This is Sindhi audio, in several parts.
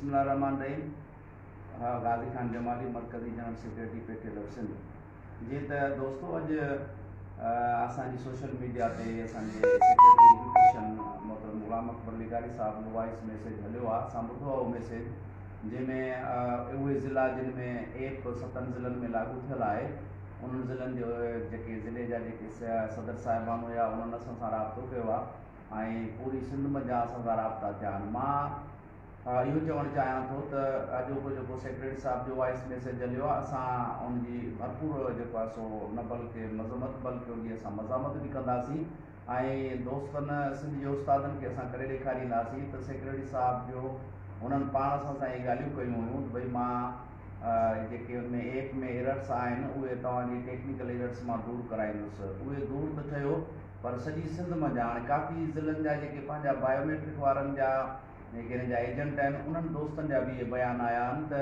بسم الله الرحمٰن الرحيم غازي خان جمالي مرڪزي general secretary P T L F Sindh جي ته دوستو اڄ اسان جي سوشل ميڊيا تي اسان جي سيڪريٽري ايجوڪيشن محترم غلام اڪبر لغاري صاحب جو وائس ميسيج هليو آهي اسان ٻڌو آهي اهو ميسيج جنهن ۾ اهي ضلع جن ۾ ايپ ستن ضلعن ۾ لاڳو ٿيل آهي انهن ضلعن جو جيڪي ضلعي جا جيڪي صدر صاحبان هيا انهن اسان سان رابطو ڪيو آهي ۽ پوري سنڌ منجهان اسان سان رابطا ٿيا آهن مان اهو چوڻ چاهيان ٿو ته اڄوڪو جيڪو سيڪريٽري صاحب جو وائس ميسيج هليو آهي اسان ان جي ڀرپور جيڪو آهي سو نه بلڪه مذمت بلڪه ان جي اسان مزاحمت به ڪنداسين ۽ دوستن سنڌ جي استادن کي اسان ڪري ڏيکارينداسين ته سيڪريٽري صاحب جو هنن پاڻ اسان سان اهي ڳالهيون ڪيون هيون ته ڀئي مان جيڪي ان ۾ ايپ ۾ ايررس آهن اهي توهان جي ٽيڪنيڪل ايررس مان دور ڪرائيندس اهي دور ته ٿيو پر سڄي سنڌ منجهان هاڻي ڪافي ضلعن جا جيڪي پنهنجا بايوميٽرڪ وارن جا نيگيرين جا ايجنٽ آهن انهن دوستن جا به اهي بيان آيا آهن ته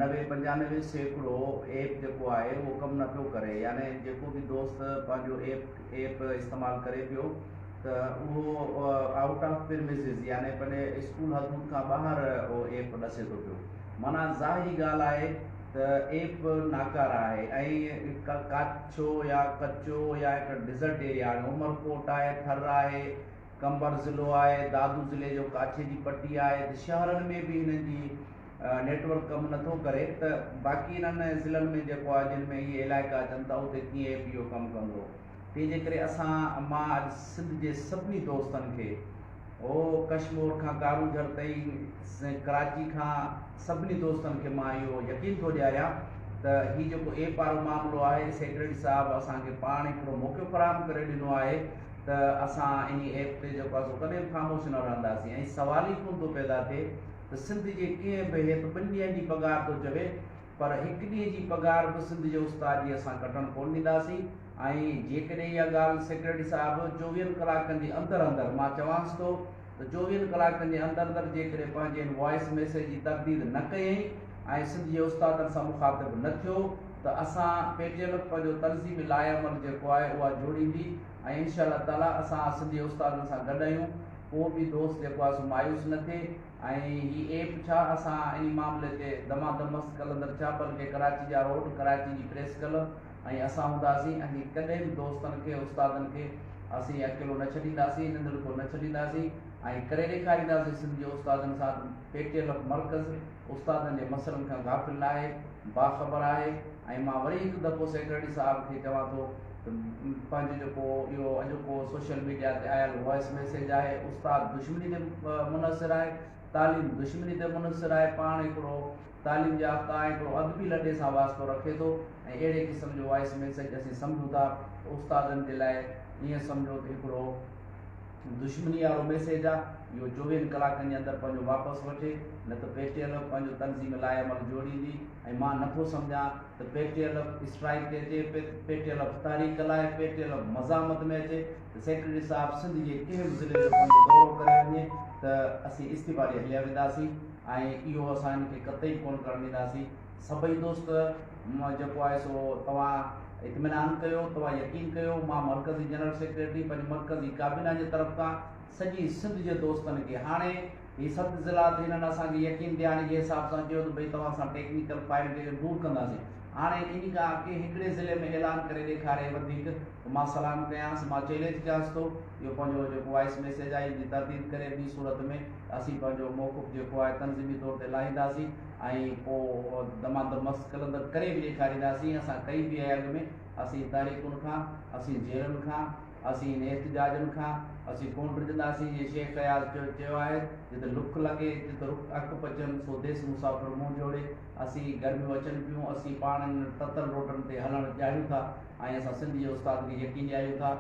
نوي پنجانوي سيڪڙو ايپ جيڪو آهي اهو ڪم نه پيو ڪري يعني جيڪو به دوست پنهنجو ايپ ايپ استعمال ڪري پيو ته اهو آئوٽ آف پرميسز يعني پنهنجي اسڪول حدود کان ٻاهر اهو ايپ ڏسي ٿو پيو معنيٰ ظاهري ڳالهه آهي ته ايپ ناڪاره آهي ۽ ڪاڇو يا ڪچو يا هڪ ڊيزرٽ ايريا هاڻي عمرڪوٽ آهي ٿر آهي قمبر ضلعو آهي، دادو ضلعي جو ڪاڇي جي پٽي آهي ته شهرن ۾ به هنن جي نيٽ ورڪ ڪم نٿو ڪري ته باقي انهن ضلعن ۾ جيڪو آهي جن ۾ اهي علائقا اچن ٿا اتي ڪيئن اي پي او ڪم ڪندو تنهن جي ڪري اسان مان اڄ سنڌ جي سڀني دوستن کي هو ڪشمور کان ڪارو جھر تائين ڪراچي کان سڀني دوستن کي مان اهو يقين ٿو ڏياريان ته هي جيڪو اي پارو معاملو آهي سيڪريٽري صاحب اسان کي پاڻ هڪڙو موقعو فراهم ڪري ڏنو آهي ته اسان انهي ايپ تي جيڪو آهي سو ڪڏهن به خاموش نه رهنداسين ۽ سوال ئي ڪونه ٿو پيدا ٿئي ته سنڌ جي ڪنهن به هيت ٻن ڏينهن جي پگهار ٿو چوي پر هڪ ڏينهن جي پگهار به سنڌ جي استاد جي اسان ڪٽڻ ڪونه ڏينداسين ۽ جيڪڏهن اها ڳالهه سيڪريٽري صاحب چوويهن ڪلاڪن جي اندر اندر مان چوانس ٿو ته چوويهن ڪلاڪن جي اندر اندر جيڪڏهن پنهنجي ان وائيس ميسيج جي ترديد نه ڪيئي ۽ سنڌ جي استادن سان مخاطب نه ٿيو ته اسان پي ٽي ايم کي پنهنجو تنظيمي لائحعمل جيڪو آهي اها جوڙيندي ۽ انشاء الله تعاليٰ اسان سنڌي استادن سان گڏ آهيون ڪو به دوست جيڪو آهي سو مايوس نه ٿئي ۽ هي ايپ ڇا اسان انهي معاملي تي دمادم مست ڪلندر ڇا بلڪه ڪراچي جا روڊ ڪراچي جي پريس ڪلب ۽ اسان هونداسين ۽ جي ڪڏهن به دوستن کي استادن کي اسين اڪيلو نه ڇڏينداسين ننڌڙڪو نه ڇڏينداسين ۽ ڪري ڏيکارينداسين سنڌ جي استادن سان پي ٽي ايل مرڪز استادن جي مسئلن کان غافل ناهي باخبر آهي ۽ مان وري هڪ دفعو سيڪريٽري صاحب کي چوان ٿو ته پنهنجو جيڪو اهو اڄوڪو سوشل ميڊيا تي آيل وائس ميسيج آهي استاد دشمني تي منحصر آهي تعليم دشمني تي منحصر آهي پاڻ هڪڙو تعليم يافته آهي هڪڙو ادبي لڏي سان واسطو رکي ٿو ۽ اهڙي قسم جو وائس ميسيج اسين سمجهون ٿا ته استادن جي لاء ائين سمجهو ته هڪڙو دشمني وارو ميسيج آ اهو چوويهن ڪلاڪن جي اندر پنهنجو واپس وٺي نه ته پي ٽي ايل ايف پنهنجو تنظيم لاعمل جوڙيندي ۽ مان نه ٿو سمجهان ته P T L F strike تي اچي پي ٽي ايل ايف تحريڪ لاء پي ٽي ايل ايف مزاحمت ۾ اچي ته سيڪريٽري صاحب سنڌ جي ڪنهن به ضلعي جو پنهنجو دورو ڪري وڃي ته اسين استعيفا ڏئي هليا وينداسين. ۽ اهو اسان هن کي قطعي ڪونه ڪرڻ ڏينداسين. سڀئي دوست جيڪو آهي سو توهان اطمينان ڪيو، توهان يقين ڪيو، مان مرڪزي جنرل سيڪريٽري پنهنجي مرڪزي ڪابينا جي طرف تان سڄي سنڌ جي دوستن کي هاڻي هي ست ضلعا ته هنن اسان کي يقين ڏيارڻ جي حساب سان چيو ته ڀئي توهان سان ٽيڪنيڪل فائلٽ کي دور ڪنداسين هاڻي ان کان اڳي هڪڙي ضلعي ۾ اعلان ڪري ڏيکاري وڌيڪ مان سلام ڪيانس، مان چئلينج ڪيانس ٿو اهو پنهنجو جيڪو وائيس ميسيج آهي ان جي ترديد ڪري ٻي صورت ۾ اسين پنهنجو موقف جيڪو آهي تنظيمي طور تي لاهينداسين ۽ پو دمان دم مس قلندر ڪري به ڏيکارينداسين اسان ڪئي به آهي اڳ ۾ اسين تحريڪن کان اسين جيلن کان اسين انهي احتجاجن کان اسين ڪون ڊڄنداسين جيئن شيخ اياز چو چيو آهي جت لک لڳي جت رک اک پچن سو ديس مسافر منهن جوڙي اسين گرميون اچن پيون اسين پاڻ انهن تتل روڊن تي هلڻ چاهيون ٿا. ۽ اسان سنڌ جي استاد کي يقين ڏياريون ٿا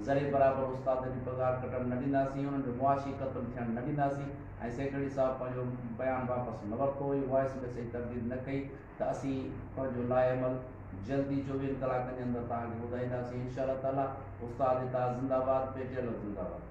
ذري برابر استادن جون پگهار ڪٽڻ نه ڏينداسين انهن جو معاشي قتل ٿيڻ نه ڏينداسين ۽ سيڪريٽري صاحب پنهنجو بيان واپس نه ورتو هيو وائيس ميسيج تبديل نه ڪئي ته اسين پنهنجو لاءعمل جلد ئي چوويهن ڪلاڪن جي اندر توهان کي ٻڌائينداسين انشاء الله تعالي استاد اتحاد زنده باد پي ٽي ايل زنده باد.